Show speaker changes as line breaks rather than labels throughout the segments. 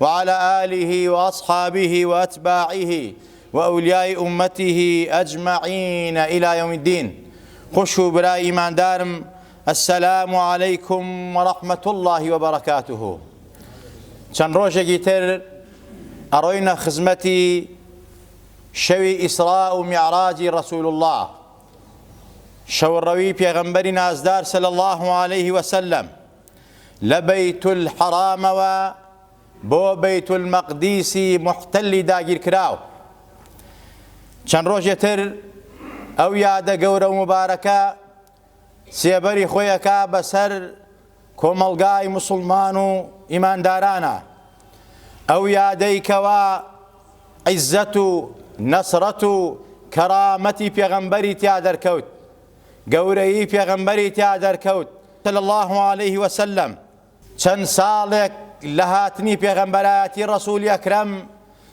وعلی آله وأصحابه وأتباعه وأولیاء أمته أجمعین إلی یوم الدین خوش و برا ئیمان دارم السلام علیکم ورحمة الله وبرکاته چەند ڕۆژێکی تر ئەڕۆینە خزمەتی شەوی ئیسراء و میعراجی رسول الله شەوڕەوی پێغەمبەری نازدار صلی الله عليه وسلم لە بەیتولحەرامەوە بۆ بەیتولمەقدیسی موحتەلی داگیرکراو. چەند ڕۆژێ تر ئەو یادە گەورە و موبارەکە سێبەری خۆی ئەکا بەسەر کۆمەڵگای موسڵمان و ئیماندارانە. ئەو یادەی کەوا عیزەت و نەسرەت و کەرامەتی پێغەمبەری تیا دەرکەوت گەورەیی پێغەمبەری تیا دەرکەوت صلی اللە علیە وسلم چەند ساڵێک لە هاتنی پێغەمبەرایەتی ڕەسولی ئەکرەم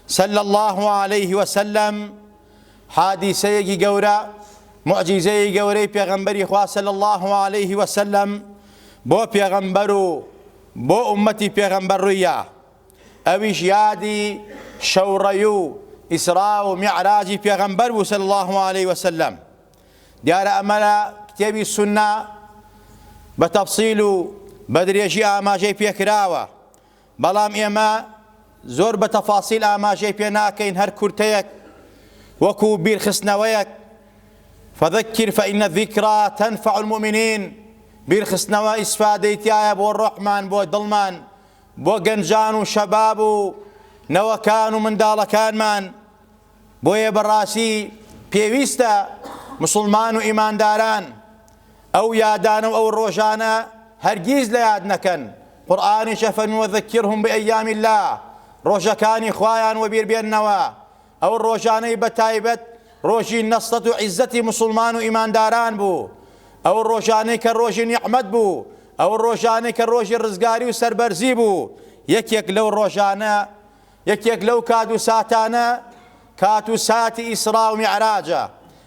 صلی اللە علیە وسلم حادیسەیەکی گەورە معجیزەیە گەورەی پێغەمبەری خوا صلی اللە علیه وسلم بۆ پێغەمبەر و بۆ ئومەتی پێغەمبەر ڕوویە ئەویش یادی شەوڕەی و ئیسرا و میعراجی پێغەمبەر بوو صلی اللە علیه وسلم دیارە ئەمە لە کتێبی سوننە بە تەفسیل و بە درێژی ئاماژەی پێکراوە بەڵام ئێمە زۆر بە تەفاسیل ئاماژەی پێ ناکەین هەر کورتەیەک وەکو بیرخستنەوەیەک فذكر فإن الذكرى تنفع المؤمنين بیرخستنەوە ئیسفادەی تایە بۆ ڕۆحمان بۆ دڵمان بۆ گەنجان و شەباب و نەوەکان و منداڵەکانمان بۆیە بەڕاستی پێویستە موسڵمان و ئیمانداران ئەو یادانە و ئەو ڕۆژانە هەرگیز لە یاد نەکەن، قورئانیشە فەرمووی وذکرهم بایام اللە، ڕۆژەکانی خوایان وەبیر بێننەوە، ئەو ڕۆژانەی بەتایبەت ڕۆژی نەسرەت و عیززەتی موسڵمان و ئیمانداران بوو، ئەو ڕۆژانەی کە ڕۆژی نیعمەت بوو، ئەو ڕۆژانەی کە ڕۆژی ڕزگاری و سەربەرزی بوو، یەکێک لەو ڕۆژانە یەکێک لەو کات و ساتانە کات و ساتی ئیسڕا و میعراجە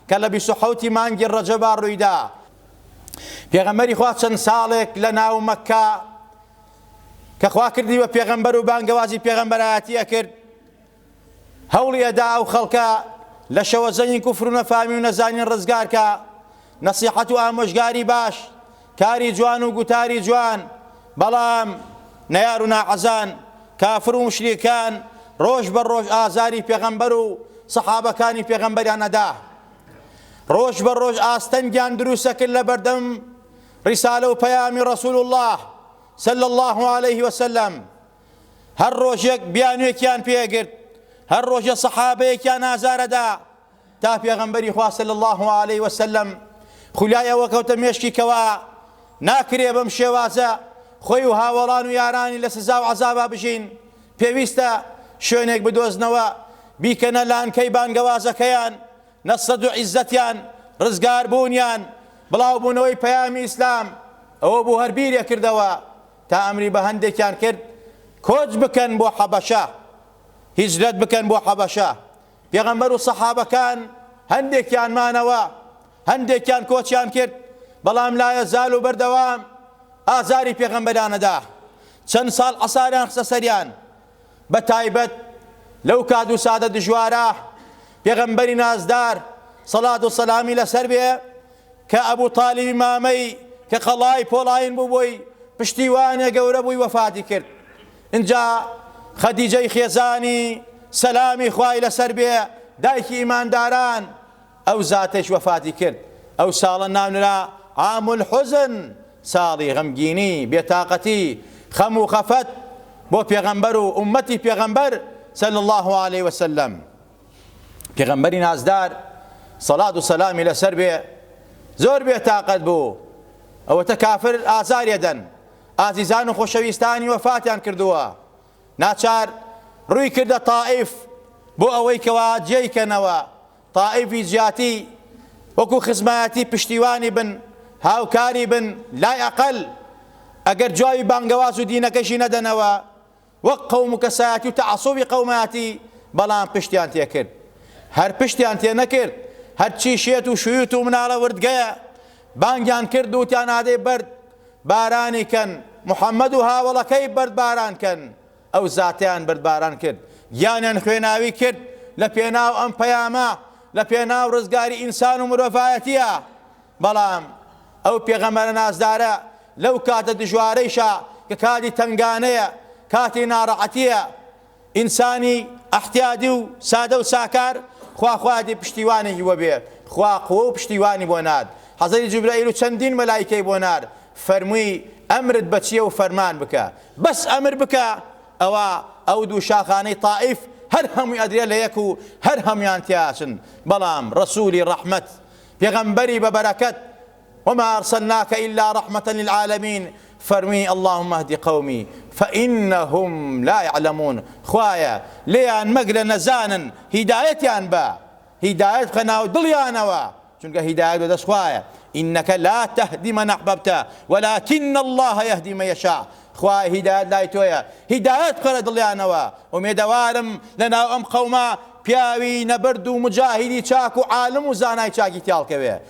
کە لە بیست و حەوتی مانگی ڕەجەبا ڕوویدا پێغەمبەری خوا چەند ساڵێک لە ناو مەککە کە خوا کردی بە پێغەمبەر و بانگەوازی پێغەمبەرایەتی ئەکرد هەوڵی ئەدا ئەو خەڵکە لە شەوەزەنگی کوفر و نەفامی و نەزانین ڕزگارکە نەسیحەت و ئامۆژگاری باش کاری جوان و گوتاری جوان بەڵام نەیار و ناحەزان کافر و موشریکان ڕۆژ بە ڕۆژ ئازاری پێغەمبەر و سەحابەکانی پێغەمبەریان ئەدا ڕۆژ بە ڕۆژ ئاستەنگیان دروسەکرد لە بەردەم ڕیسالە و پەیامی ڕسول الله سل الله عليه وسلم هەر ڕۆژێک بیانوێکیان پێگرت هەر ڕۆژە سەحابەیەکیان ئازارەدا تا پێغەمبەری خوا صلی اللە علیە وسلم خولای ئەوە کەوتە مێشکی کەوا ناکرێ بەم شێوازە خۆی و هاوەڵان و یارانی لە سزا و عەزابا بژین پێویستە شوێنێک بدۆزنەوە بیکەنە لانکەی بانگەوازەکەیان نەسەد و عیزەتیان ڕزگار بوونیان بڵاو بوونەوەی پەیامی ئیسلام ئەوە بوو هەر بیرێ کردەوە تا ئەمری بە هەندێکیان کرد کۆچ بکەن بۆ حەبەشە هیجرەت بکەن بۆ حەبەشە پێغەمبەر و سەحابەکان هەندێکیان مانەوە، هەندێکیان کۆچیان کرد، بەڵام لایەزال و بەردەوام ئازاری پێغەمبەریان ئەدا، چەند ساڵ عەساریان خستە سەریان، بە تایبەت لەو کات و ساتە دژوارە، پێغەمبەری نازدار سەڵات و سەلامی لەسەر بێ کە ئەبو تالیبی مامەی کە قەڵای پۆڵاین بوو بۆی پشتیوانێ گەورە بووی وەفاتی کرد، ئینجا خەدیجەی خێزانی، سەلامی خوای لەسەر بێ، دایکی ئیمانداران، ئەو زاتەیش وەفاتی کرد، ئەو ساڵە ناونرا، عام الحزن، ساڵی غەمگینی، بێتاقەتی، خەم و خەفەت، بۆ پێغەمبەر و ئوممەتی پێغەمبەر، صلی اللە علیە وسلم، پێغەمبەری نازدار، سەڵات و سەلامی لەسەر بێ، زۆر بێتاقەت بوو، ئەوەتە کافر ئازاریەدەن، ئازیزان و خۆشەویستانی وەفاتیان کردووە، ناچار ڕووی کردە تائیف بۆ ئەوەی کەوا جێی کەنەوە، تائیفی جیاتی وەکو خزمایەتی پشتیوانی بن، هاوکاری بن، لای ئەقەل ئەگەر جوابی بانگەواز و دینەکەشی نەدەنەوە، وەک قەوم و کەسایەتی و تەعەسوبی قەومایەتی بەڵام پشتیان تێکرد هەر پشتیان تێ نەکرد هەرچی شێت و شویت و مناڵە وردگەیە بانگیان کرد و تان ئادەی بەرد بارانی کەن محەممەد و هاوەڵەکەی بەرد باران کەن ئەو زاتیان بەرد باران کرد گیانیان خوێناوی کرد لە پێناو ئەم پەیامە لە پێناو ڕزگاری ئینسان و مرۆڤایەتیە بەڵام ئەو پێغەمەرە نازدارە لەو کاتە دژوارەیشا کە کاتی تەنگانەیە، کاتی ناڕەعەتیە، ئینسانی ئەحتیادی و سادە و ساکار خوا خوادی پشتیوانی هیوە بێ، خوا قوە و پشتیوانی بۆ نارد، حەزرەتی جوبرەئیل و چەندین مەلایکەی بۆ نارد، فەرمووی ئەمرت بە چیە و فەرمان بکە، بەس ئەمر بکە، ئەوا ئەو دوو شاخانەی تائیف هەر هەمووی ئەدرێ لە یەک و هەر هەموویان تێئەچن، بەڵام ڕەسوولی ڕەحمەت، پێغەمبەری بە بەرەکەت، وما ارسلناک الا رحمە للعالمین فەرمووی اللهم اهد قومی فانهم لا یعلمون خوایە لێیان مەگرە نەزانن هیدایەتیان بە هیدایەت بخە ناو دڵیانەوە چونکە هیدایەت بەدەست خوایە انک لا تهدی من احببت ولکن الله یهدی من یشاء خوایە هیدایەت لای تۆیە هیدایەت بخە لە دڵیانەوە ئومێدەوارم لەناو ئەم قەومە پیاوی نەبرد و موجاهیدی چاک و عالم و زانای چاکی تیاڵکەوێ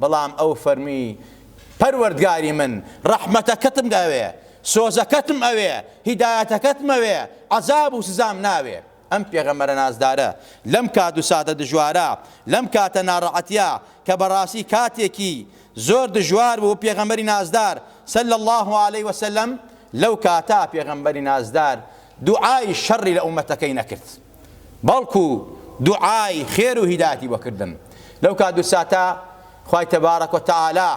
بەڵام ئەو فەرمی، پەروەردگاری من، ڕەحمەتەکەتم ئەوێ، سۆزەکەتم ئەوێ، هیدایەتەکەتم ئەوێ، عەزاب و سزام ناوێ. ئەم پێغەمبەرە نازدارە لەم کات و ساتە دژوارە، لەم کاتە ناڕەعەتیە کە بەڕاستی کاتێکی زۆر دژوار بوو بۆ پێغەمبەری نازدار، صلی اللە علیە و سلم، لەو کاتە پێغەمبەری نازدار دوعای شەڕی لە ئومەتەکەی نەکرد. بەڵکو دوعای خێر و هیدایەتی بۆ کردم لەو کات و ساتە خوای تبارک و تعالی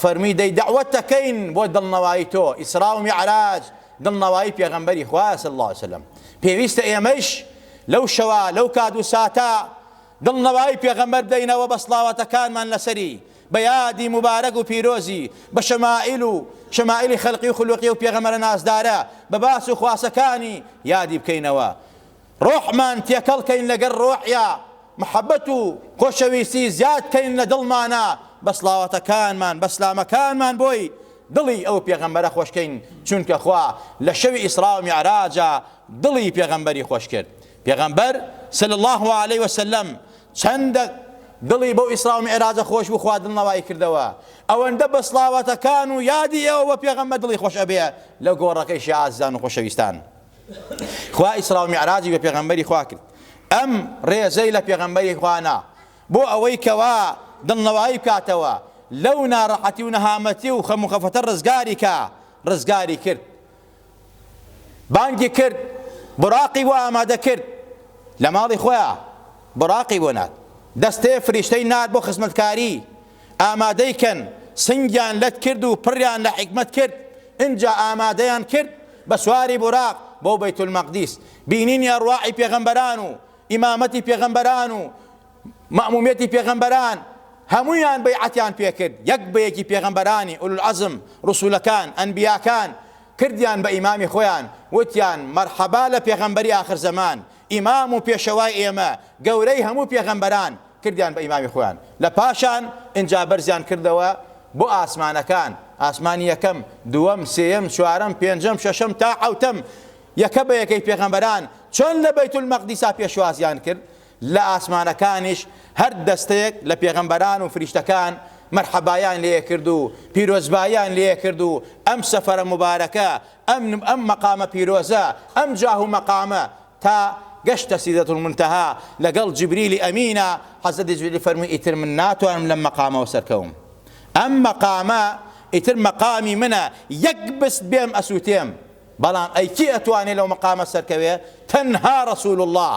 فەرمی دەی دەعوەت دەکەین بۆ دڵنەوایی تۆ ئیسرا و میعراج دڵنەوایی پێغەمبەری خوا صلی الله علیه وسلم پێویستە ئێمەش لەو شەوە لەو کات و ساتە دڵنەوایی پێغەمبەر بدەینەوە بە سڵاواتەکانمان لەسەری بە یادی موبارەک و پیرۆزی، بە شەمائیل و شەمائیلی خەلقی و خولوقی ئەو پێغەمبەرە نازدارە، بە باس و خواسەکانی، یادی بکەینەوە. ڕۆحمان تێکەڵ کەین لەگەر ڕۆحیا، محەبەت و خۆشەویستی زیاد کەین لە دڵمانا، بە سڵاوەتەکانمان، بە سلامەکانمان بۆی، دڵی ئەو پێغەمبەرە خۆش کەین، چونکە خوا لە شەوی ئیسرا و میعراجا دڵی پێغەمبەری خۆش کرد. پێغەمبەر، صلی اللە علیە وسلم، چەند دەق دڵی بەو ئیسراو میعراجە خۆش بوو خوا دڵنەوای کردەوە ئەوەندە بە سڵاواتەکان و یادی ئێوە بە پێغەمبەر دڵی خۆش ئەبێ لە گۆڕەکەی شێ ئازیزان و خۆشەویستان خوا ئیسراو میعراجی بە پێغەمبەری خوا کرد ئەم ڕێزەی لە پێغەمبەری خوا نا بۆ ئەوەی کەوا دڵنەوایی بکاتەوە لەو ناڕەحەتی و نەهامەتی و خەم و خەفەتە ڕزگاری کا ڕزگاری کرد بانگی کرد بوراقی بۆ ئامادە کرد لە ماڵی خۆیا بوراقی بۆ نارد دەستەیە فریشتەی نارد بۆ خزمەتکاری ئامادەی کەن سنگیان لەت کرد و پڕیان لە حکمت کرد ئینجا ئامادەیان کرد بە سواری بوراق بۆ بەیت المەقدیس بینینی ئەڕواحی پێغەمبەران و ئیمامەتی پێغەمبەران و مەئمومیەتی پێغەمبەران هەموویان بەیعەتیان پێکرد یەک بە یەکی پێغەمبەرانی ئولو العزم رسولەکان ئەنبیاکان کردیان بە ئیمامی خۆیان وتیان مەرحەبا لە پێغەمبەری ئاخر زەمان ئیمام و پێشەوای ئێمە گەورەی هەموو پێغەمبەران کردیان بە ئیمامی خۆیان لە پاشان ئینجا بەرزیان کردەوە بۆ ئاسمانەکان ئاسمانی یەکەم دووەم سێیەم چوارەم پێنجەم شەشەم تا حەوتەم یەکە بە یەکەی پێغەمبەران چۆن لە بەیت المەقدیسا پێشوازیان کرد لە ئاسمانەکانیش هەر دەستەیەک لە پێغەمبەران و فریشتەکان مەرحەبایان لێکرد و پیرۆزباییان لێکرد و ئەم سەفەرە موبارەکە، ئەم ئەم مەقامە پیرۆزە، ئەم جاه و مەقامە تا گەشتە سیدرەتولمونتەها لەگەڵ جیبریلی ئەمینە، حەزرەتی جیبریل فەرمووی ئیتر من ناتوانم لەم مەقامەوە سەرکەوم، ئەم مەقامە ئیتر مەقامی منە، یەک بست بێم ئەسووتێم، بەڵام ئەی کێ ئەتوانێ لەو مەقامە سەرکەوێ؟ تەنها رسول اللە.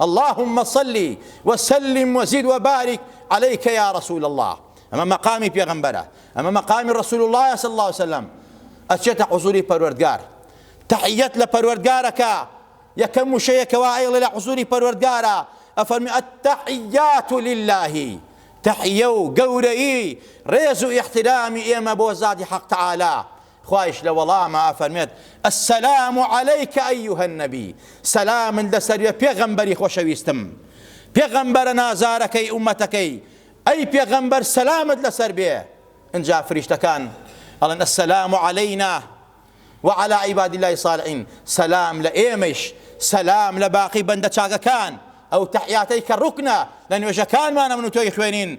اللهم صل وسلم وزد وبارک علیک یا رسول اللە ئەمە مەقامی پێغەمبەرە ئەمە مەقامی رسول اللە صلی اللە وسلم ئەچێتە حزوری پەروەردگار تحیەت لە پەروەردگارەکە یەکەم وشەیە کەوا ئەیڵێ لە حزوری پەروەردگارە ئەفەرمی التحیات لله تحیە و گەورەیی ڕێز و ئیحترامی ئێمە بۆ زاتی حەق تعالی خوایش لە وەڵاما ئەفەرموێت، السلام علیک ایها النبی، سەلامت لەسەر بێ پێغەمبەری خۆشەویستم. پێغەمبەرە نازارەکەی ئومەتەکەی، ئەی پێغەمبەر سەلامت لەسەر بێ، ئنجا فریشتەکان ئەڵێن، السلام علینا و علی عباد اللە الصالحین، سەلام لە ئێمەیش، سەلام لە باقی بەندە چاکەکان، ئەو تەحیاتەی کە ڕوکنە لە نوێژەکانمانە من و تۆی خوێنین،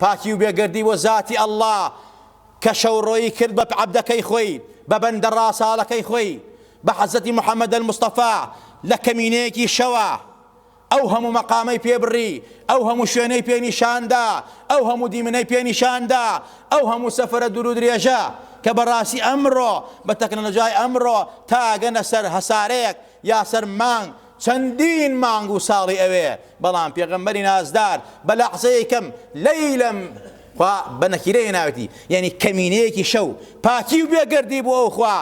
پاکی و بێگەردی بۆ زاتی اللە کە شەو ڕۆیی کرد بە عەبدەکەی خۆی بە بەندە ڕاساڵەکەی خۆی بە حەزرەتی محمد المصطفی لە کەمینەیەکی شەوا ئەو هەموو مەقامەی پێ بڕی ئەو هەموو شوێنەی پێ نیشاندا ئەو هەموو دیمنەی پێ نیشاندا ئەو هەموو سەفرە دوور و درێژە کە بەڕاستی ئەمڕۆ بە تەکنەلۆژیای ئەمڕۆ تاگەنە سەر هەسارەیەک یا سەر مانگ چەندین مانگ و ساڵی ئەوێ، بەڵام پێغەمبەری نازدار بە لەحزەیەی کەم، لەیلم، خوا بە نەکیرە هێناوێتی، یەنی کەمینەیەکی شەو، پاکی و بێ گەردی بۆ ئەو خوا،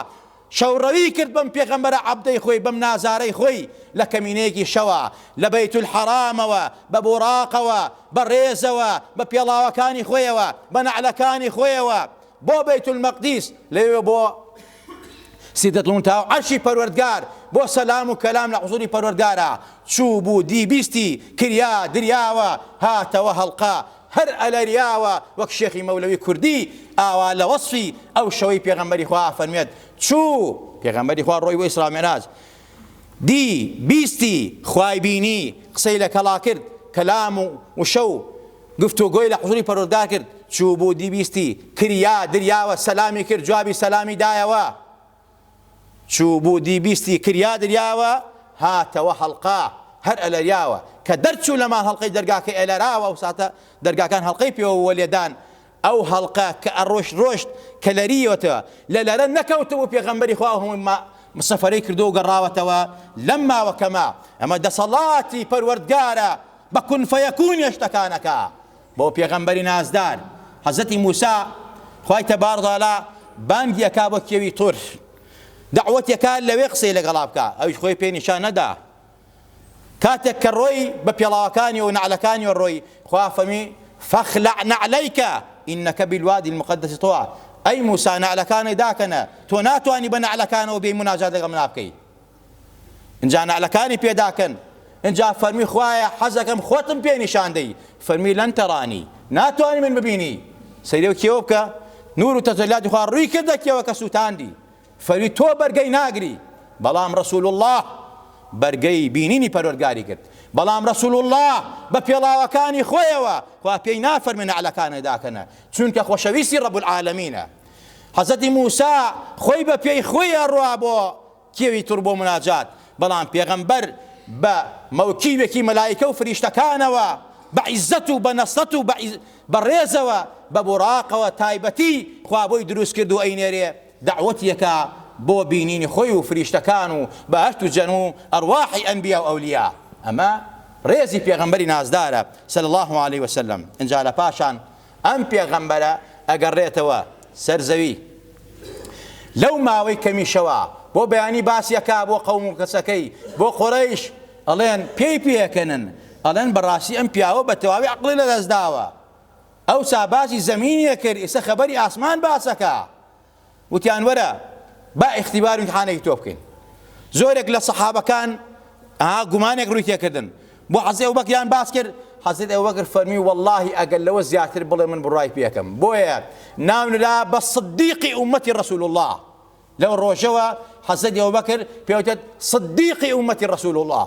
شەوڕەوی کرد بەم پێغەمبەرە عەبدەی خۆی، بەم نازارەی خۆی، لە کەمینەیەکی شەوا، لە بەیتولحەرامەوە، بە بوراقەوە، بە ڕێزەوە، بە پێڵاوەکانی خۆیەوە، بە نەعلەکانی خۆیەوە، بۆ بەیتولمەقدیس، لەوێ بۆ، سیدرەتلمونتەها و عەرشی پەروەردگار بۆ سەلام و کەلام لە حزوری پەروەردگارا چوو بوو دی بیستی کریا دریاوە هاتەوە هەڵقە هەر ئەلەریاوە وەک شێخی مەولەوی کوردی ئاوا لە وەسفی ئەو شەوەی پێغەمبەری خوا ئەفەرموێت چوو پێغەمبەری خوا ڕۆی بۆ ئیسرا مێراج دی بیستی خوای بینی قسەی لە کەڵا کرد کەلام و وشە و گفتوگۆی لە حزوری پەروەردگار کرد چوو بوو دیبیستی کریا دریاوە سەلامی کرد جوابی سەلامی دایەوە چوو بوو دیبیستی کریا دریاوە هاتەوە هەڵقا هەر ئەلەریاوە کە دەرچوو لە ماڵ هەڵقەی دەرگاکەی ئەلەراوە ئەو ساتە دەرگاکان هەڵقەی پێوە بوو لێدان ئەو هەڵقە کە ئەڕۆشت ڕۆشت کە لەرییەوەتەوە لە لەرە نەکەوتبوو پێغەمبەری خوا هەموو ما سەفەرەی کردووە و گەڕاوەتەوە لەم ماوە کەمە ئەمە دەسەڵاتی پەروەردگارە بە کون فەیەکونی شتەکانەکە بۆ پێغەمبەری نازدار حەزەتی موسا خوای تەبارڕالا بانگی ئەکا بۆ کێوی تور دەعوەتێکا لەوێ قسەی لەگەڵا بکە ئەویش خۆی پێ نیشان نەدا کاتێک کە ڕۆی بە پێڵاوەکانی و نەعلەکانی و ڕۆی خوا فەرمی فخلع نعلیک انک بالوادی المقدس طوا ئەی موسا نەعلەکانت داکەنە تۆ ناتوانی بە نەعلەکانەوە بێی مناجات لەگەڵ منا بکەی ئینجا نەعلەکانی پێداکەن ئینجا فەرمی خوایە حەزەکەم خۆتم پێ نیشاندەی فەرمی لەن تەرانی ناتوانانی من ببینی سەیرێ و کێوە بکە نور و تەجەللاتی خوا ڕووی کردە کێوە کە سووتاندی فەرمی تۆ بەرگەی ناگری بەڵام رسول اللە بەرگەی بینینی پەروەرگاری گرت بەڵام رسول اللە بە پێڵاوەکانی خۆیەوە خوا پێی نافەرمی نەعلەکانت داکەنە چونکە خۆشەویستی رب العالمینە حەزەتی موسا خۆی بە پێی خۆی ئەڕوا بۆ کێوی تڕ بۆ مناجات بەڵام پێغەمبەر بە مەوکیوێکی مەلایکە و فریشتەکانەوە بە عیزەت و بە نەسەت و بە ڕێزەوە بە بوراقەوە تایبەتی خوا بۆی دروست کرد و ئەینێرێ دەعوەتیەکە بۆ بینینی خۆی و فریشتەکان و بەهەشت و جەن و ئەرواحی ئەنبیا و ئەولیا ئەمە ڕێزی پێغەمبەری نازدارە صلی اللە علیە وسلم ئینجا لە پاشان ئەم پێغەمبەرە ئەگەڕێتەوە سەر زەوی لەو ماوەی کەمیشەوە بۆ بەیانی باسی ئەکا بۆ قەوم و کەسەکەی بۆ قوڕەیش ئەڵێن پێی پێکەنن ئەڵێن بەڕاستی ئەم پیاوە بە تەواوی عەقڵی لەدەستداوە ئەوسا باسی زەمینی ئەکرد ئیستا خەبەری ئاسمان باسەکا وتیان وەرە با ئیختیبار و ئیمتحانێکی تۆ بکەین زۆرێک لە سەحابەکان گومانێک ڕووی تێکردن بۆ حەزی ئەو بەکریان باس کرد حەزرت ئەو بەکر فەرمی واللهی ئەگەر لەوە زیاتر بڵێ من بڕای پێکەم بۆیە ناونرا بە صدیقی ئومەتی رسول الله لەو ڕۆژەوە حەزرەتی ئەبوبەکر پێوتێت صدیقی ئومەتی ڕەسول اللە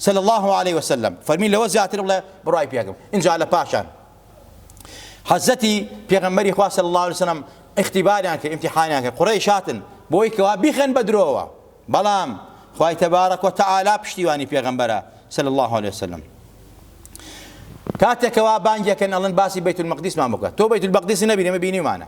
صلی اللە علیه وسلم فەرمی لەوە زیاتر بڵێ بڕای پێکم ئینجا لە پاشان حەزەتی پێغەمبەری خوا صلی اللە علیه وسلم اختباریان کرد امتحانیان کرد قڕیش هاتن بۆی کەوا بیخەن بە درۆوە بەڵام خوای تەبارەک و تەعالا پشتیوانی پێغەمبەرە صلی اللە علیه وسلم کاتێکەوە بانگێکن ئەڵن باسی بەیت المەقدیسمان بکە تۆ بەیت المەقدیس نەبینێمە بینیمانە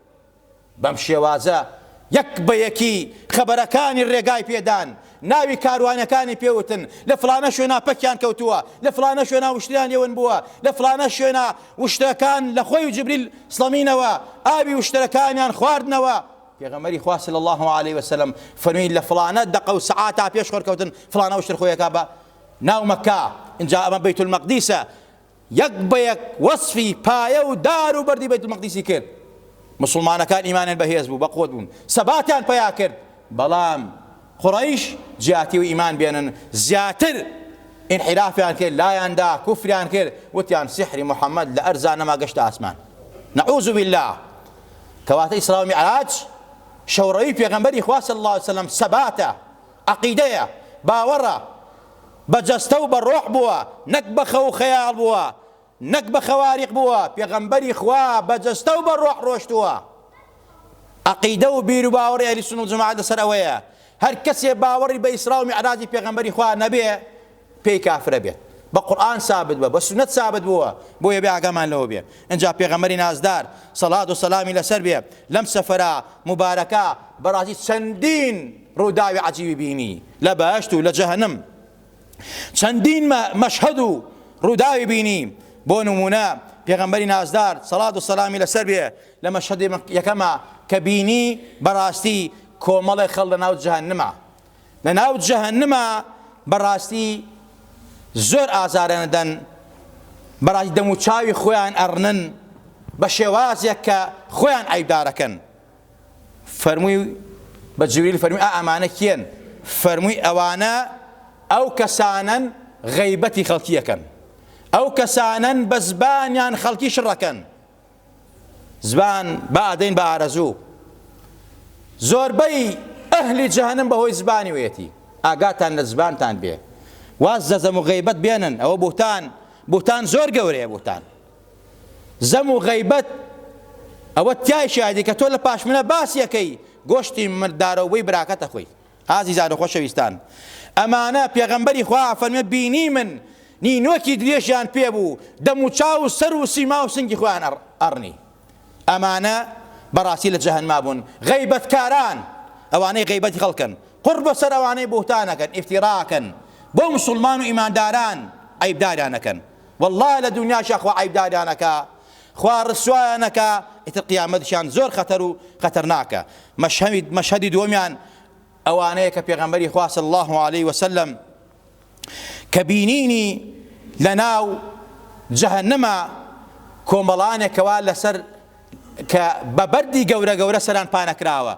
بەم شێوازە یەک بە یەکی خەبەرەکانی ڕێگای پێدان، ناوی کاروانەکانی پێ وتن، لە فڵانە شوێنا پەکیان کەوتووە، لە فڵانە شوێنا وشتریان لێ ون بووە، لە فڵانە شوێنا وشترەکان لە خۆی و جبریل سڵەمینەوە ئاوی وشترەکانیان خواردنەوە، پێغەمبەری خوا صلی اللە علیە و سلم فەرمی لە فڵانە دەقە و سەعاتا پێش خۆر کەوتن فڵانە وشتر خۆیەکا بە ناو مەککە، ئینجا ئەمە بەیت المەقدیسە، یەک بە یەک وەسفی پایە و دار و بەردی بەیت المەقدیسی کرد. موسڵمانەکان ئیمانیان بەهێز بوو، بەقوەت بوون، سەباتیان پەیا کرد، بەڵام قوڕەیش جیاتی و ئیمان بێنن زیاتر ئینحیرافیان کرد، لایان دا، کوفریان کرد، وتیان سیحری محەمەد لە ئەرزا نەما گەشتە ئاسمان. نعوذ باللە! کەواتە ئیسراء و میعراج شەوڕەوی پێغەمبەری خوا صلی اللە علیە وسلم سەباتە. عەقیدەیە، باوەڕە، بە جەستە و بە ڕۆح بووە، نەک بە خەو و خەیاڵ بووە، نەک بە خەواریق بووە، پێغەمبەری خوا بە جەستە و بە ڕۆح ڕۆشتووە. عەقیدە و بیروباوەڕی ئەهلی سوننە و جەماعەت لەسەر ئەوەیە، هەر کەسێ باوەڕی بە ئیسرا و میعراجی پێغەمبەری خوا نەبێ، پێی کافرە بێت بە قورئان سابت بە بە سونەت سابت بووە بۆیە بێ ئاگامان لەوە بێ ئنجا پێغەمبەری نازدار سەڵات و سەلامی لەسەر بێ لەم سەفەرە موبارەکە بەڕازی چەندین ڕووداوی عەجیبی بینی لە بەهەشت و لە جەهەنم چەندین مە مەشهەد و ڕووداوی بینی بۆ نمونە پێغەمبەری نازدار سەڵات و سەلامی لەسەر بێ لە مەشهەدی یەکەمە کە بینی بەڕاستی کۆمەڵێک خەڵ لە ناو جەهەنمە لە ناو جەهەنما بەڕاستی زۆر ئازارەدەن بەڕاستی دەم و چاوی خۆیان ئەڕنن بە شێوازێک کە خۆیان ئایدارەکەن فەرمووی بە جوریل فەرمی ئا ئەمانە کێن فەرمووی ئەوانە ئەو کەسانن غەیبەتی خەڵکیەکەن ئەو کەسانن بە زبانیان خەڵکی شڕەکەن زبان با ئەدەین بە ئارەزوو زۆربەی ئەهلی جەهەنم بەهۆی زبانی وێتی ئاگاتان لە زبانتان بێ واز لە زەم و غیبەت بێنن ئەوە بوتان بوتان زۆر گەورەیە بوتان زەم و غیبەت ئەوە تای شادی کە تۆ لە پاشمنە باسیەکەی گۆشتی مردارەوەی براکەتە خۆی ئازیزانو خۆشەویستان ئەمانە پێغەمبەری خوا ئەفەرموێ بینیمن نینۆکی درێژیان پێبوو دەمو چاوو سەرو سیماو سنگی خۆیان ئەڕنی ئەمانە بەڕاستی لە جەهەنما بوون غەیبەت کاران ئەوانەی غەیبەتی خەڵکن قوڕ بەسەر ئەوانەی بوهتانەکەن ئیفتیڕاکەن بۆ موسوڵمان و ئیمانداران عەیبداریان ئەکەن واللە لە دونیاشا خوا عەیبداریان ئەکا خوا ڕسوایان ئەکا ئیتر قیامەتیشان زۆر خەتەر و خەتەرناکە مەشهەوید مەشهەدی دووەمیان ئەوانەیە کە پێغەمبەری خوا صلی الله علیه و سلم کە بینینی لەناو جەهەنەما کۆمەڵانێکەوە لەسەر کە بە بەردی گەورە گەورە سەران پانەکراوە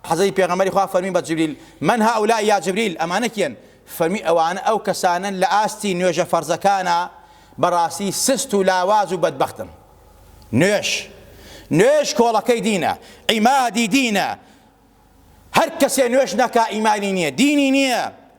حەزرەتی پێغەمبەری خوا فەرمی بە جبریل، من هؤلاء یا جبریل، ئەمانە کێن؟ فەرمی، ئەوانە ئەو کەسانەن لە ئاستی نوێژە فەرزەکانا بەڕاستی سست و لاواز و بەدبەختن. نوێژ نوێژ کۆڵەکەی دینە، عیمادی دینە، هەر کەسێ نوێژ نەکا ئیمانی نیە، دینی نیە،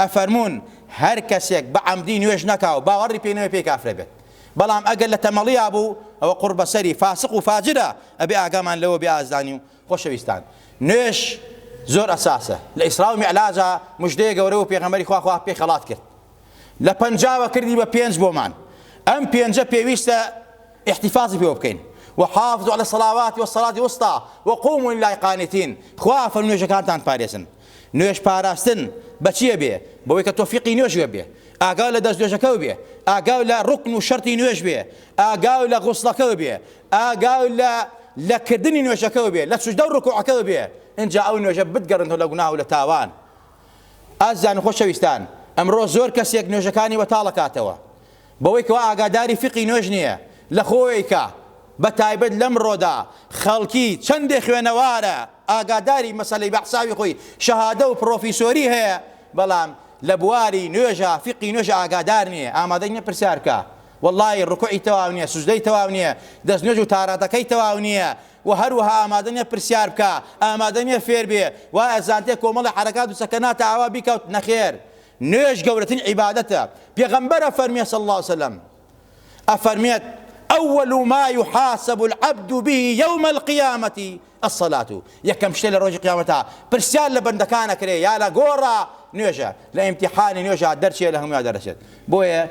ئەفەرموون، هەر کەسێک بە عەمدی نوێژ نەکا و باوەڕی پێی نەبێ پێی کافرە بێت، بەڵام ئەگەر لە تەمەڵیا بوو ئەوە قوڕ بەسەری، فاسق و فاجرە، ئەبێ ئاگامان لەوە بێ ئازیزانی و خۆشەویستان نوێژ زۆر ئەساسە، لە ئیسرا و میعلاجا مژدەیە گەورە بوو پێغەمبەری خوا خوا پێی خەڵات کرد لە پەنجاوە کردی بە پێنج بۆمان ئەم پێنجە پێویستە احتفاظی پێوە بکەین وحافظوا على الصلوات والصلاة الوسطى وقوموا لله قانتين خوا فەرموێژەکانتان پارێزن نوێژ پاراستن بە چیە بێ؟ بەوەی کە تۆ فیقی نوێژ وێ بێ، ئاگاو لە دەستنوێژەکەو بێ، ئاگاو لە ڕوکن و شەرتی نوێژ بێ، ئاگاو لە غوسڵەکەو بێ، ئاگاو لە لە کردنی نوێژەکەو بێ، لە سوجدەو ڕکوعەکەو بێ، ئینجا ئەو نوێژە بتگەڕێنتەوە لە گوناه و لە تاوان. ئازیزان و خۆشەویستان، ئەمڕۆ زۆر کەسێک نوێژەکانی وەتاڵ ئەکاتەوە، بەوەی کەوا ئاگاداری فیقی نوێژ نیە لەخۆیکە بەتایبەت لەمڕۆدا خەڵکی چەندێ خوێنەوارە ئاگاداری مەسەلەی بەحساوی خۆی شەهادە و پڕۆفیسۆری هەیە بەڵام لەبواری نوێژا فیقی نوێژ ئاگادار نیە ئامادەی نیە پرسیار بکا وەڵڵاهی ڕکوعی تەواو نیە سوجدەی تەواو نیە دەست نوێژ و تاراتەکەی تەواو نیە و هەروەها ئامادە نیە پرسیار بکا ئامادە نیە فێر بێ وایە زانتێ کۆمەڵی حەرەکات و سەکەناتە ئاوا بیکەوت نەخێر نوێژ گەورەترین عیبادەتە، پێغەمبەر ئەفەرموێ، صلی اللە علیە وسلم، ئەفەرموێت، اول ما یحاسب العبد به یوم القیامە الصلاة، یەکەم شتێ لە ڕۆژی قیامەتا پرسیار لە بەندەکان ئەکرێ یا لە گۆڕا نوێژە، لە ئیمتیحانی نوێژا دەرچێ لە هەمویا دەرەچێت، بۆیە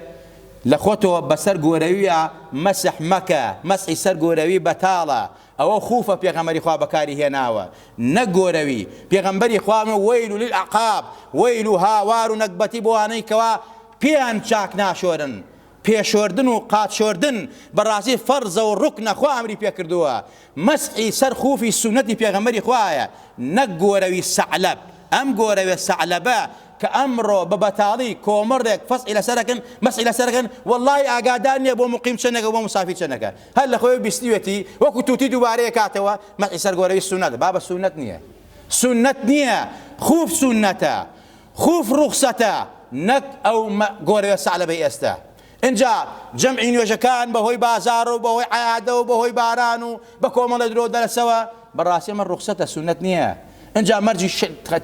لە خۆتەوە بەسەر گۆرەویا مەسح مەکە، مەسحی سەر گۆرەوی بەتاڵە، ئەوە خوفە پێغەمبەری خوا بەکاری هێناوە نەک گۆرەوی، پێغەمبەری خوا فەرمووی، ویل للاعقاب، ویل و هاوار و نەگبەتی بۆ ئەوانەی کەوا پێیان چاک ناشۆرن، پێ شۆردن و قاچ شۆردن بەڕاستی فەرزە و ڕوکنە خوا ئەمری پێ کردووە، مەسحی سەر خوفی سوننەتی پێغەمبەری خوایە نەک گۆرەوی سەعلەب، ئەم گۆرەوێ سەعلەبە کە ئەمڕۆ بە بەتاڵی کۆمەڕێک فەسحی لەسەر ئەکەن مەسحی لەسەر ئەکەن وەڵاهی ئاگادار نیە بۆ موقیم چەنێکە و بۆ موسافیر چەنەکە، هەر لە خۆیەوە بیستویەتی وەکو توتی دووبارەی کاتەوە مەحی سەر گۆرەوی سوننەت بابە سوننەت نیە سوننەت نیە خوف سوننەتە خوف ڕوخسەتە نەک ئەو گۆرەوە سەعلەبەی ئێستا ئینجا جەمعی نوێژەکان بەهۆی بازار و بەهۆی عیادە و بەهۆی باران و بە کۆمەڵە درۆ دەرەسەوە بەڕاستی ئەمە ڕوخسەتە سوننەت نییە ئینجا مەرجی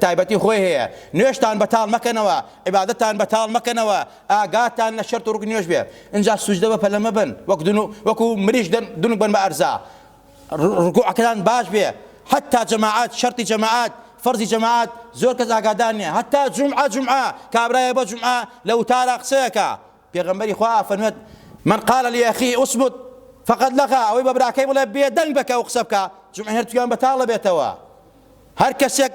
تایبەتی خۆی هەیە نوێژتان بەتاڵ مەکەنەوە عیبادەتان بەتاڵ مەکەنەوە ئاگاتان لە شەرت و ڕوکنی نوێژ بێ ئینجا سوجدە بە پەلە مەبەن وەک دون وەکو مریشک دەن دونک بن بە ئەرزا ڕکوعەکەتان باش بێ حتا جەماعەت شەرتی جەماعەت فەرزی جەماعەت زۆر کەس ئاگادار نیە حتا جمعە جمعە کابرایە بە جمعە لە وتارا قسەیەکە پێغەمبەری خوا فەرمێت من قال لأخي اثبت فقد لغا ئەوەی بە براکەی بڵێ بێدەنگ بکە و قسە بکە جمعە هەر تویان بەتاڵە بێتەوە هەر کەسێک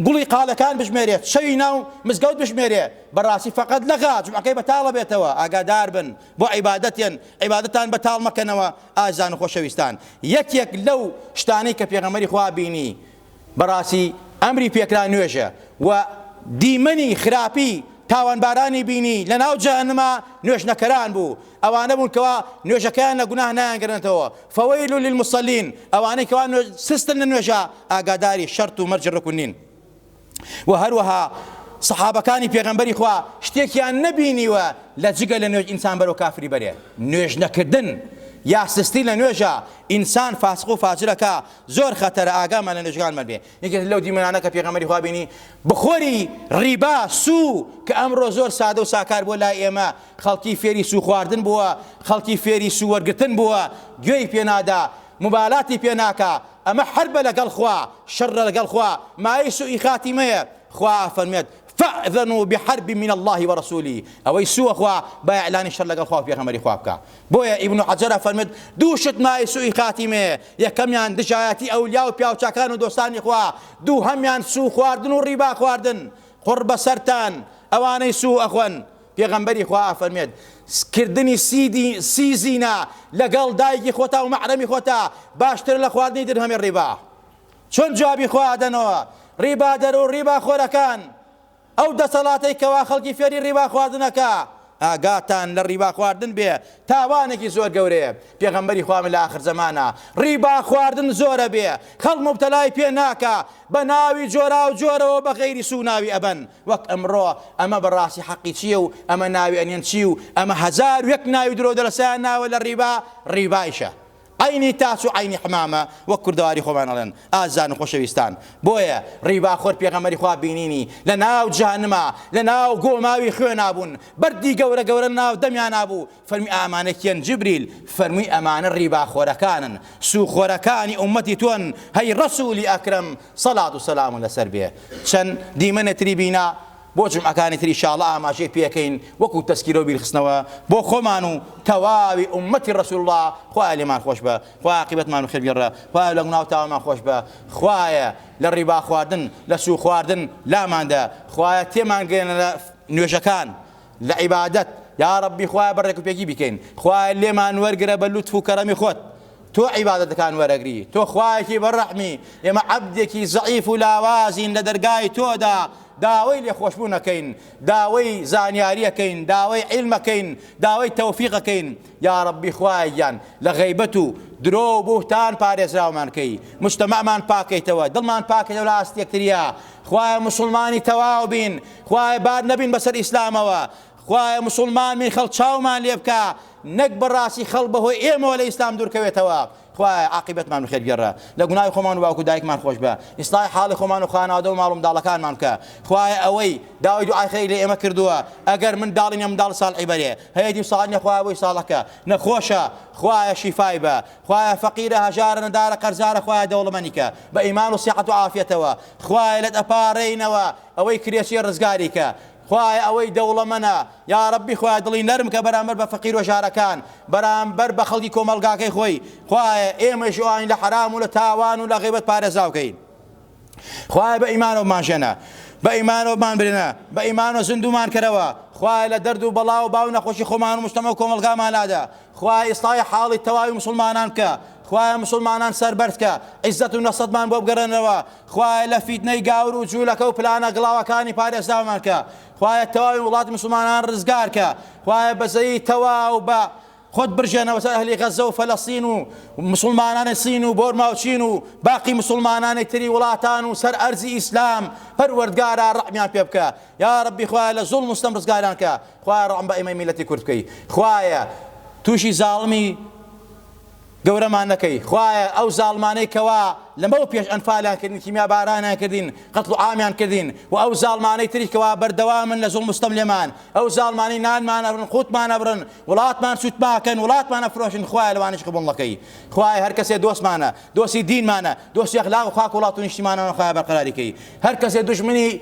گوڵی قالەکان بژمێرێت شەوی ناو مزگەوت بژمێرێ بەڕاستی فەقەت لە غا جمعەکەی بەتاڵە بێتەوە ئاگادار بن بۆ عیبادەتێن عیبادەتان بەتاڵ مەکەنەوە ئازان و خۆشەویستان یەکێک لەو شتانەی کە پێغەمەری خوا بینی بەڕاستی ئەمری پێکرا نوێژە و دیمەنی خراپی تاوانبارانی بینی لە ناو جەهەنما نوێژنەکەران بوو ئەوانە بوون کەوا نوێژەکەیان لە گوناه نایانگەرنەتەوە، فویل للمصلین، ئەوانەی کەوا نوێژ سستن لە نوێژا ئاگاداری شەرت و مەرجی ڕوکن نین وە هەروەها صحابەکانی پێغەمبەری خوا شتێکیان نەبینیوە لە جگە لە نوێژ ئینسان بەرەو کافری بەرێ نوێژ نەکردن یا سستی لە نوێژە ئینسان فاسق و فاجرەکە زۆر خەتەرە ئاگامان لە نوێژگانمان بێ یەکێک لەو دیمەنانە کە پێغەمبەری خوا بینی بخۆری ڕیبا سو کە ئەمڕۆ زۆر سادە و ساکار بۆ لای ئێمە خەڵکی فێری سو خواردن بووە خەڵکی فێری سو وەرگتن بووە گوێی پێنادا مبالاتی پێ ناکا ئەمە حربە لەگەڵ خوا شەڕە لەگەڵ خوا مایەی سوئی خاتیمەیە خوا ئەفەرمێت فاذنوا بحرب من اللە ورسولە ئەوەی سووە خوا با ئیعلانی شەر لەگەڵ خوا و پێغەمبەری خوا بکا بۆیە ئیبن حەجەر ئەفەرمێت دوو شت مایەی سووئی خاتیمەیە یەکەمیان دژایەتی ئەولیا و پیاوچاکان و دۆستانی خوا دووهەمیان سوو خواردن و ڕیبا خواردن قوڕ بەسەرتان ئەوانەی سوو ئەخۆن پێغەمبەری خوا ئەفەرمێت کردنی سی زینا لەگەڵ دایکی خۆتا و مەحرەمی خۆتا باشترە لە خواردنی درهەمی ڕیبا چۆن جوابی خۆ ئادەنەوە ڕیبادەر و ڕیبا خۆرەکان ئەو دەسەڵاتەی کەوا خەڵکی فێری ڕیبا خواردن ئەکا ئاگاتان لە ڕیبا خواردن بێ تاوانێکی زۆر گەورەیە پێغەمبەری خوا فەرمی لە ئاخر زەمانە ڕیبا خواردن زۆر ئەبێ خەڵک موبتەلای پێ ناکا بە ناوی جۆراو جۆرەوە بە غەیری سوو ناوی ئەبەن وەک ئەمڕۆ ئەمە بە ڕاستی حەقی چیە و ئەمە ناوی ئەنێن چی و ئەمە هەزار و یەک ناوی درۆو دەلەسەیان ناوە لە ڕیبا ڕیبایشە عەینی تاس و عەینی حمامە وەک کوردەواری خۆمان ئەڵێن ئازیزان و خۆشەویستان بۆیە ڕیباخۆر پێغەمبەری خوا بینینی لە ناو جەهەنما لە ناو گۆماوی خوێنا بوون بەردی گەورە گەورە لە ناو دەمیانا بوو فەرمی ئامانە کێن جبریل فەرمووی ئەمانە ڕیباخۆرەکانن سوو خۆرەکانی ئومەتی تۆن هەی ڕەسوولی ئەکرەم سەڵات و سەلام لەسەر بێ چەن دیمەنێ تری بینا بۆ جومعەکانی تر ئیشاڵڵە ئاماژەی پێکەین وەکو تەسکیرە و بیرخستنەوە بۆ خۆمان و تەواوی ئوممەتی ڕەسول اللە خوایە لێمان خۆشبە خوایە عاقیبەتمان خێر گێڕە خوایە لە گوناو تاوانمان خۆشبە خوایە لە ڕیبا خواردن لە سوو خواردن لاماندە خوایە تێمان گەیەنە لە نوێژەکان لە عیبادەت یاڕەبی خوایە بە ڕێکوپێکی بیکەین خوایە لێمان وەرگرە بە لوتف و کەرەمی خۆت تۆ عیبادەتەکان وەرەگری تۆ خوایەکی بەڕەحمی ئێمە عەبدێکی زەعیف و لاوازین لە دەرگای تۆدا داوەی لێخۆشبوون ئەکەین داوەی زانیاری ئەکەین داوەی عیلم ئەکەین داوەی تەوفیق ئەکەین یاڕەبی خوایە گیان لە غەیبەت و درۆ و بوهتان پارێزراومان کەی مجتەمەعمان پاکەیتەوە دڵمان پاکەیتەوە لە ئاست یەکتریا خوایە موسڵمانی تەواو بین خوایە بار نەبین بەسەر ئیسلامەوە خوایە موسڵمان بین خەڵ چاومان لێ بکە نەک بەڕاستی خەڵ بەهۆی ئێمەوە لە ئیسلام دوورکەوێتەوە خوایە عاقیبەتمان بەخێرگێڕە لە گوناهی خۆمان و باوک و دایکمان خۆشبە ئیسلاحی حاڵی خۆمان و خانەوادە و ماڵومنداڵەکانمان بکە خوایە ئەوەی داوای دوعای خێری لە ئێمە کردووە ئەگەر منداڵی نیە منداڵی ساڵحی بەرێ هەیە دی ساڵ نیە خوایە بۆی ساڵەکە نەخۆشە خوایە شیفای بە خوایە فەقیرە هەژارە نەدارە قەرزارە خوایە دەوڵەمەنیکە بە ئیمان و سیحەت و عافیەتەوە خوایە لەت ئەپارێینەوە ئەوەی کرێچیە ڕزگاریکە خوایە ئەوەی دەوڵەمەنە یاڕەبی خوایە دڵی نەرم کە بەرامبەر بە فەقیرو ژارەکان بەرامبەر بە خەڵکی کۆمەڵگاکەی خۆی خوایە ئێمەیش و ئاین لە حەرام و لە تاوان و لە غیبەت پارێزراو کەی خوایە بە ئیمانەوە بمانژێنە بە ئیمانەوە بمانبرێنە بە ئیمانەوە زیندومان کەرەوە خوایە لە دەرد و بەڵا و باو نەخۆشی خۆمان و مشتەمە و کۆمەڵگامانادا خوایە ئیسلاحی حاڵی تەواوی موسڵمانان بکە خوایە موسڵمانان سەربەرز کە عیزەت و نەسەتمان بۆ بگەڕێنەوە خوایە لە فیتنەی گاور و جولەکە و پلانە گڵاوەکانی پارێزراومان کە خوایە تەواوی وڵاتی موسڵمانان ڕزگار کە خوایە بەزەیی تەواو بە خۆت برژێنەوە سەر ئەهلی غەزە و فەلەستین و مسلمانانی سین و بۆرما و چین و باقی مسلمانانی تری وڵاتان و سەر ئەرزی ئیسلام پەروەردگارا ڕەحمیان پێ بکە یاڕەبی خوایە لە زوڵم و ستەم ڕزگاریان کە خوایە ڕەحم بە ئێمەی میلەتی کورد بکەی خوایە توشی زاڵمی گەورەمان نەکەی خوایە ئەو زاڵمانەی کەوا لەمەو پێش ئەنفالیان کردین کیمیا بارانیان کردین قەتڵ و عامیان کردین و ئەو زاڵمانەی تری کەوا بەردەوامن لە زوڵم ستەم لێمان ئەو زاڵمانی نانمان ئەبرن قوتمان ئەبرن وڵاتمان سوتماکەن وڵاتمان ئەفرۆشن خوایە لەوانیش قبوڵ نەکەی خوایە هەر کەسێ دۆستمانە دۆستی دینمانە دۆستی ئەخلاق و خاک وڵات و نیشتیمانانە خوایە بەرقەراریکەی هەر کەسێ دژمنی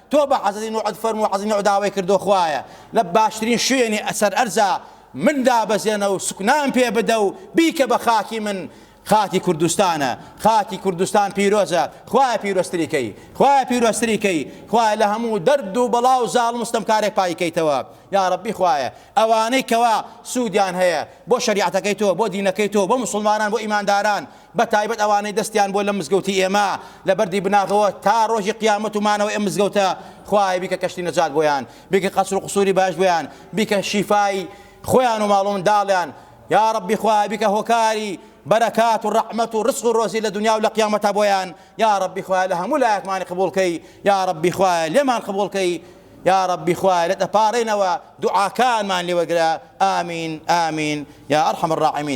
تۆ بە عەزەدی نوعت فەرموو عەزەدی نوع داوای کردووە خوایە لە باشترین شوێنی سەر ئەرزا من دابەزێنە و سوکنام پێ بدە و بیکە بە خاکی من خاکی کوردستانە خاکی کوردستان پیرۆزە خوایە پیرۆزتری کەی خوایە پیرۆزتری کەی خوایە لە هەموو دەرد و بەڵا و زاڵم ستەمکارێک پایکەیتەوە یا ڕەبی خوایە ئەوانەی کەوا سوودیان هەیە بۆ شەریعەتەکەی تۆ بۆ دینەکەی تۆ بۆ موسڵمانان بۆ ئیمانداران بە تایبەت ئەوانەی دەستیان بووە لەم مزگەوتی ئێمە لە بەردی بناغەوە تا ڕۆژی قیامەت و مانەوەی ئەم مزگەوتە خوایە بیکە کەشتی نەجات بۆیان بیکە قەسر و قسوری باش بۆیان بیکە شیفای خۆیان و ماڵ و منداڵیان یا ڕەبی خوایە بیکە هۆکاری بەرەکات و ڕەحمەت و ڕزق و ڕۆزی لە دنیا و لە قیامەتە بۆیان یا ڕەبی خوایە لە هەموو لایەکمانی قبوڵکەی یا ڕەبی خوایە لێمان قبوڵکەی یا ڕەبی خوایە لە دەپارێنەوە دوعاکانمان لێوەگرە ئامین ئامین یا ئەرحەم الراحمین